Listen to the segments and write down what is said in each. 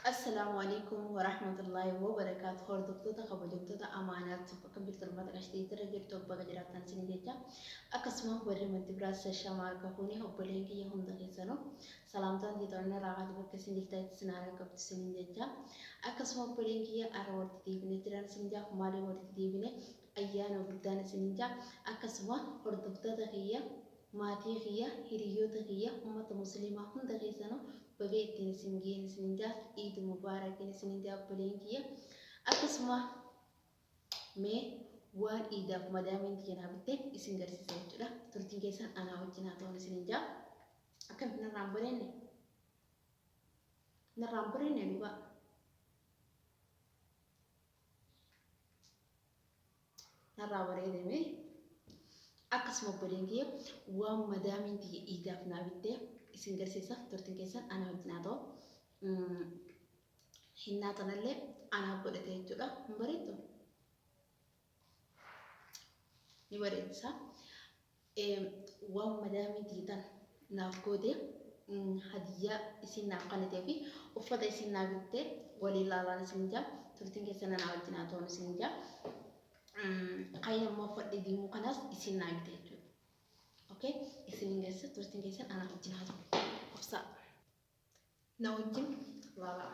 Assalaamu Aleykum Warahmatullahi Wabarakaatu Hordoftoota kabajamtoota amaanaa tokko akkam jirtu ummata qashtiitti irra jirtu baga jiraattan isin jecha akkasuma warri manti biraa shashama harka fuuni obboleen kiyya hunda keessanu salaamtaan jeetoonna raaqaati bakka isin jirtan itti isin haara qabdu isin jecha akkasuma obboleen kiyya ara walitti deebine jiran isin jaaf maaliin walitti deebine Ayyaana guddaan isiniin ja'a. Akkasuma hordoftoota kiyya, maatii kiyya, hiriyyoota kiyya, ummata musliimaa hunda keessanuu baga ittiin isin ga'een isiniin ja'a. Iid Mubaarakiin isiniin ja'a obboleeyyan kiyya. Akkasuma mee waan iidaaf madaamiin tiyya naa bitte isin garsiisa jechuudha. Turtiin keessan anaa wajjin haa ta'uun isiniin ja'a. Akkamitti narraa hin bareenne? Narraa hin bareenne dhugaa. narraa bareedame akkasuma obboleen kiyya waan madaamiin tiyya iidaaf naa bitte isin garsiisa turtiin keessan ana wajjin haa ta'u hinnaa tanallee anaaf godhate jechuudha hin bareeddu ni bareedisa Waw madaamii diidan naaf goote hadiyyaa isiin naaf kanitee fi uffata isiin naa bitte waliin laalaan isiin jaa turtiin keessan anaa wajjin haa ta'uun isiin jaa kayin ammoo uffadhee diimuu kanaas isiin naa bite jechuudha okay isiin keessa turtiin keessan anaa wajjin haa ta'u obsaa na wajjin laalaa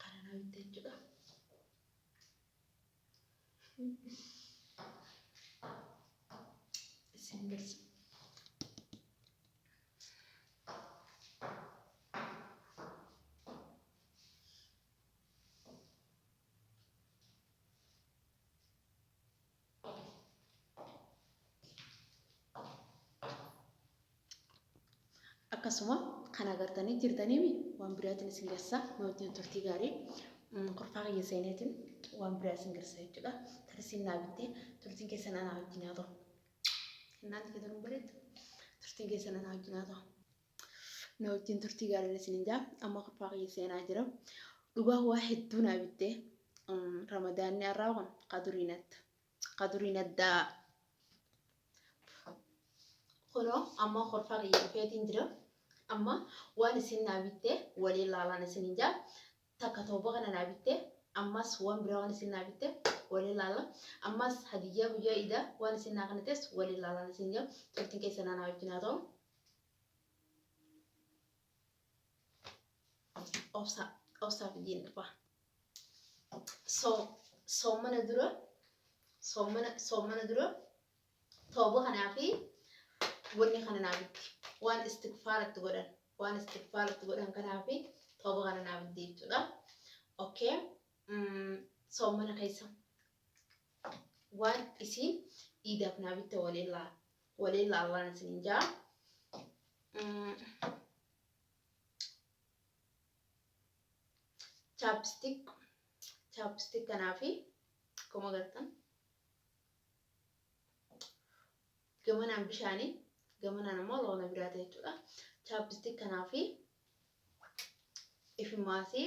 Kana naa bitte jechuudha. Isin garsa. akkasuma kan agartanii jirtanii mi waan biraatiin isin garsaa mootiin turtii gaarii mm, kurfaa kiyya seeneetiin waan biraa isin garsaa jechuudha tarsiin naa bittee turtiin keessan anaa wajjin haa ta'u innaan itti ta'u bareedu turtiin keessan anaa wajjin haa ta'u na wajjin turtii gaariin isinin jaa amma kurfaa kiyya seenaa jira dhugaa waa hedduu naa bittee ramadaanni har'aa kun kaduriin adda kaduriin addaa kunoo amma kurfaa kiyya dhufeetiin jira amma waan isin naa bittee walii laalaan isinin jaa takka tawba kana naa bitte ammas wan biraa wan isiin naa bitte wali laalla ammas hadiyyaa guyyaa iida wan isiin naa kanites wali laalan isiin jaa turtin keessan anaa wajjin haa ta'u obsa obsa fidiin dhufa so soomana dura soomana soomana dura tooba kanaa fi wanni kana naaf itti waan istigfaara itti godhan waan istigfaara itti godhan kanaa fi tooba kana naaf itti jechuudha. Okay. Mm, soomana keessa waan isiin iidaaf naa bitte waliin laa waliin laallaan isin jaa chaapstik chaapstik kanaa fi akkuma gartan gamanaan bishaani gamanaan ammoo loona biraata jechuudha chaappistik kanaa fi ifimaasii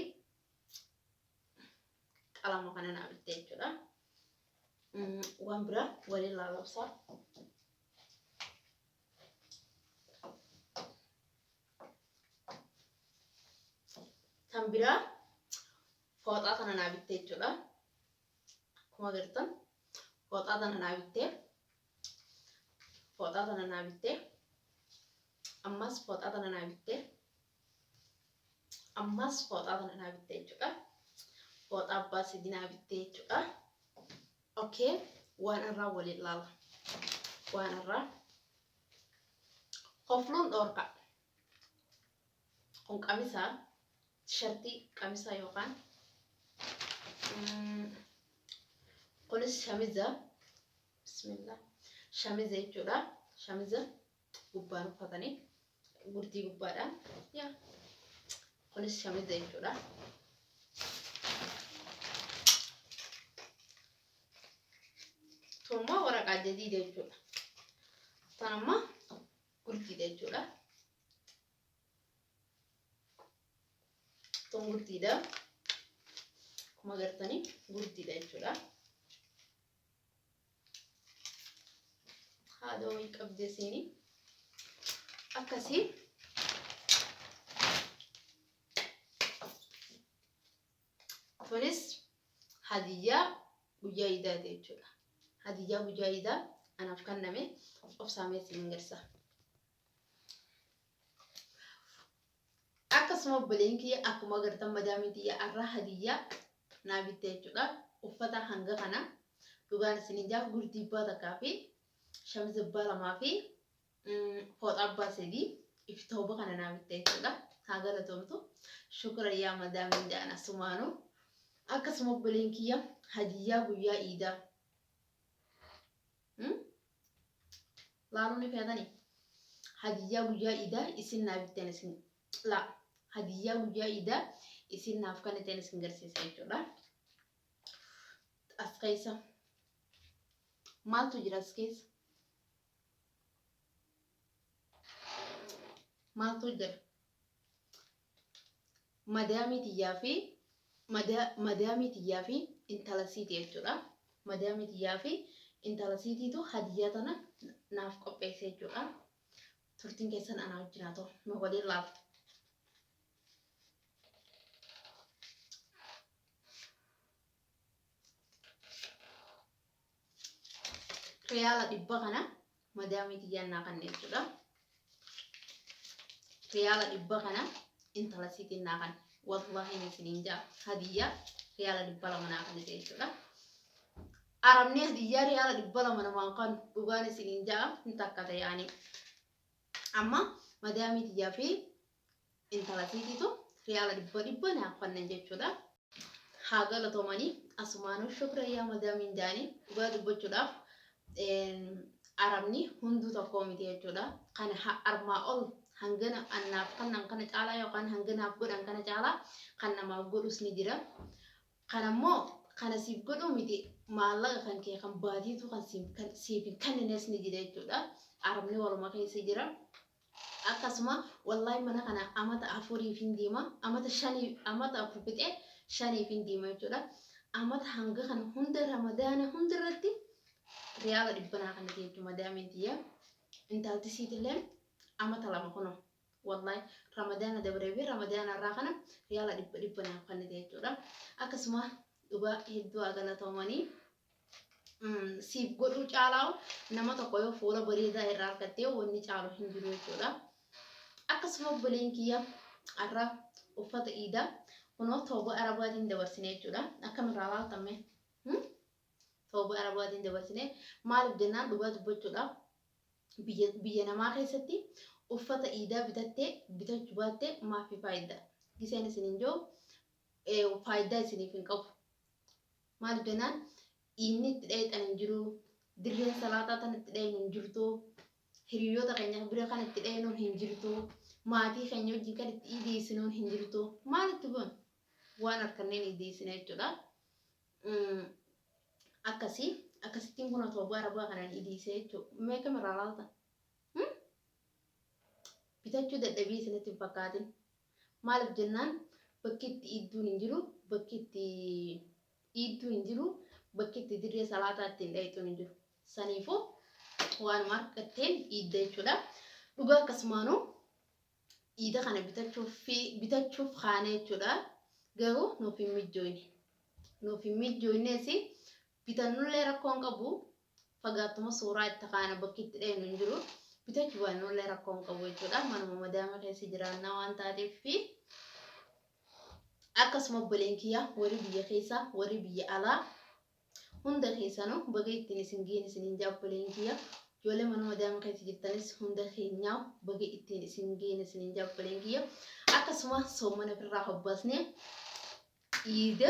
qalama kana naa bitte jechuudha waan bira waliin laalabsaa kan biraa fooxaa kana naa bitte jechuudha akkuma agartan fooxaa tana naa bittee fooxaa tana naa bittee ammas fooxaa tana naa bittee ammas fooxaa tana naa bittee jechuudha fooxaa abbaa sadii naa bittee jechuudha okay waan irraa waliin laala waan irraa kofluun dhoorkaa Kun qamisa tishartii qamisa yookaan mm, kunis shamiza bismillah shamiza jechuudha shamiza gubbaan uffatanii gurdii gubbaadha yaa kunis shamiza jechuudha tun immoo waraqaa jadiida jechuudha tan amma Qurtiidha jechuudha. Kun gurtiidha. Akkuma agartanii gurtiidha jechuudha. Haadha wayii qabdee siinii. Akkasii Kunis hadiyyaa guyyaa iidaati jechuudha. Hadiyyaa guyyaa iidaa anaaf kenname obsaamee isin agarsiisa. Akkasuma obboleen kiyya akkuma agartan madaamiin kiyya har'a hadiyyaa naa bitte jechuudha. Uffata hanga kana dhugaan isin hin jaaf gurdiibbaa takkaa fi shamizibbaa lamaa fi Fooxaa abbaa sadii ifi tooba kana naa bitte jechuudha. Haa galatoomtu. Shukura yaa madaamiin ja'an asumaanu. Akkasuma obboleen kiyya hadiyyaa guyyaa iidaa. Hmm? Laaluu ni feetanii? Hadiyyaa guyyaa iidaa isin naa bitteen isin laa. Hadiyyaa guyyaa iidaa isin naaf kenniteen isin garsiisa jechuudha. As keessa maaltu jira as keessa? maaltu hojjeta madaamii tiyyaa fi mada- madaamii tiyyaa fi intala siiti jechuudha madaamii tiyyaa fi intala siitiitu hadiyyaa tana naaf qopheesse jechuudha turtiin keessan anaa wajjin haa ta'u nu waliin laala Riyaala dhibba kana madaamii tiyyaan naa kanne jechuudha. Riyaala dhibba kana intala siitiin naa kanne. Wallaahi ni isiniin jaa hadiyyaa riyaala dhibba lama naa kanne jechuudha. Arabni hadiyyaa riyaala dhibba lama namaan kan dhugaan isiniin jaa hin takka ta'e ani. Amma madaamii tiyyaa fi Intala tiititu riyaala dhibba dhibba naaf fannan jechuudha. Haa galatomani asumaanuu shukra yaa madaamiin jaani dhugaa dubbachuudhaaf arabni hunduu tokkoo miti jechuudha. Kana ha armaa ol hangana annaaf kannan kana caalaa yookaan hanganaaf godhan kana caalaa kan namaaf godhus ni jira. Kanammoo kana siif godhuu miti maallaqa kan kee kan baatiitu kan siif hin kennines ni jira jechuudha. Arabni waluma keessa jira. Akkasuma wallahi mana kana amata afuriifin deema amata shani amata afur fixee shaniifin deema jechuudha. Amata hanga kana hunda ramadaana hunda irratti riyaala dhibba naa kannite jechuudha madaamiin tiyya. Intalti siitillee amata lama kunoo wallahi ramadaana dabree fi ramadaana irraa kana riyaala dhibba dhibba naaf kannite jechuudha. Akkasuma dhugaa hedduu haa galatoomanii. siif godhuu caalaa nama tokko yoo fuula bareedaa irraa argattee wanni caalu hin jiru jechuudha. Akkasuma obboleen kiyya har'a uffata iidaa kunoo tooba arabaatiin dabarsine jechuudha. Akkamirraa laaltamme? Tooba arabaatiin dabarsine maaliif jennaan dhugaa dubbachuudha. Biyya namaa keessatti uffata iidaa bitattee bitachuu baattee maafii faayidaa. Giseen isiniin jiru faayidaa isiniif hin qabu. Maaliif jennaan dhiinni itti dhayxan hin jiru, dirreen salaataa tan itti dhaynu hin jirtu, hiriyyoota keenya bira kan itti dhaynu hin jirtu, maatii keenya wajjin kan itti iideessinu hin jirtu. Maal itti goona? Waan harkanneen iideessina jechuudha. Akkasii akkasittiin kun otoo abbaa arabaa kanaan iideessee jechuudha. Mee kam irraa laalta? Bitachuu dadhabii isinitti hin fakkaatin. Maalif jennaan bakki itti iidduun hin jiru, bakki itti iiddu hin jiru, bakki itti dirree salaataa ittiin dhayxuun hin jiru. Saniifuu waanuma argatteen iidda jechuudha. Dhugaa akkasumaanuu iida kana bitachuuf fi bitachuuf kaane jechuudha. Garuu nuuf hin mijjooyne. Nuuf hin mijjooyneesi bitannullee rakkoon qabu fagaattuma suuraa itti kaana bakki itti dhaynu hin jiru bitachu baannullee rakkoo hin qabu jechuudha manuma madaama keessa jiraannaa waan taateef fi akkasuma obboleen kiyya warri biyya keessa warri biyya alaa hunda keessanu baga ittiin isin geen isin hin jaa obboleen kiyya ijoollee manuma madaama keessa jirtanis hunda keenyaa baga ittiin isin geen isin hin jaa obboleen kiyya akkasuma soomana ofirraa hobbaasne iida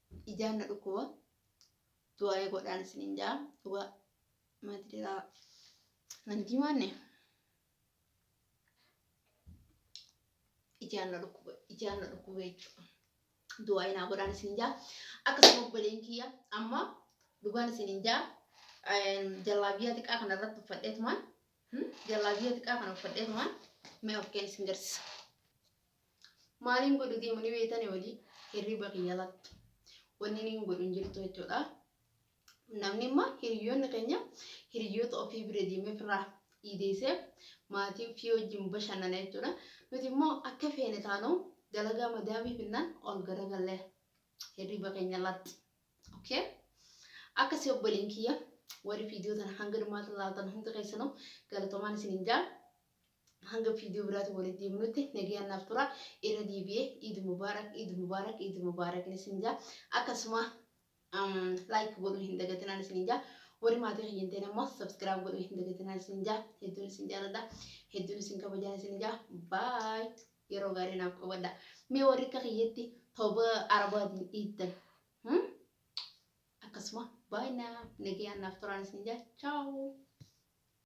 ijaan na dhukkuba du'aa'ee godhaan isiniin ja'a dhugaa mati dhiraa nan diimaanne ijaan na dhukkuba ijaan na dhukkuba jechuudha du'aa'ee naa godhaan isiniin ja'a akkasuma obboleen kiyya amma dhugaan isiniin ja'a jallaabiyaa xiqqaa kana irratti uffadheetumaan jallaabiyaa xiqqaa kana uffadheetumaan mee of keen isin garsiisa. Maalin godhu deemu ni beetani wali hirriba kiyya lakki wanni nin godhu hin jirtu jechuudha. Namni imma hiriyoonni keenya hiriyoota ofii bira deemee ofirraa iideessee maatii ofii wajjin bashannana jechuudha. Nuti immoo akka feene taanu dalagaa madaamii finnaan ol garagalle hirriba keenya latti. Okay? Akkasii obboleen kiyya warri viidiyoo tana hanga dhumaatti ilaaltan hundi keessanuu galatomaan isin hin jaa. Hanga video biraatiin walitti deebinutti nagayaan naaf turaa. Irra deebi'ee Eid Mubarak Eid Mubarak Eid Mubarak isiniin jaa. Akkasuma like godhuu hin dagatinaan isiniin jaa. Warri maatii kiyya hin ta'in ammoo subscribe godhuu hin dagatinaan isiniin jaa. Hedduun isin jaaladha. Hedduun isin kabajaan isiniin jaa. Bye. Yeroo gaarii naaf qabadha. Mee warri akka kiyyatti tooba arabaatiin dhiittan. Hmm? Akkasuma bye now. Nagayaan naaf turaan isiniin jaa. Ciao.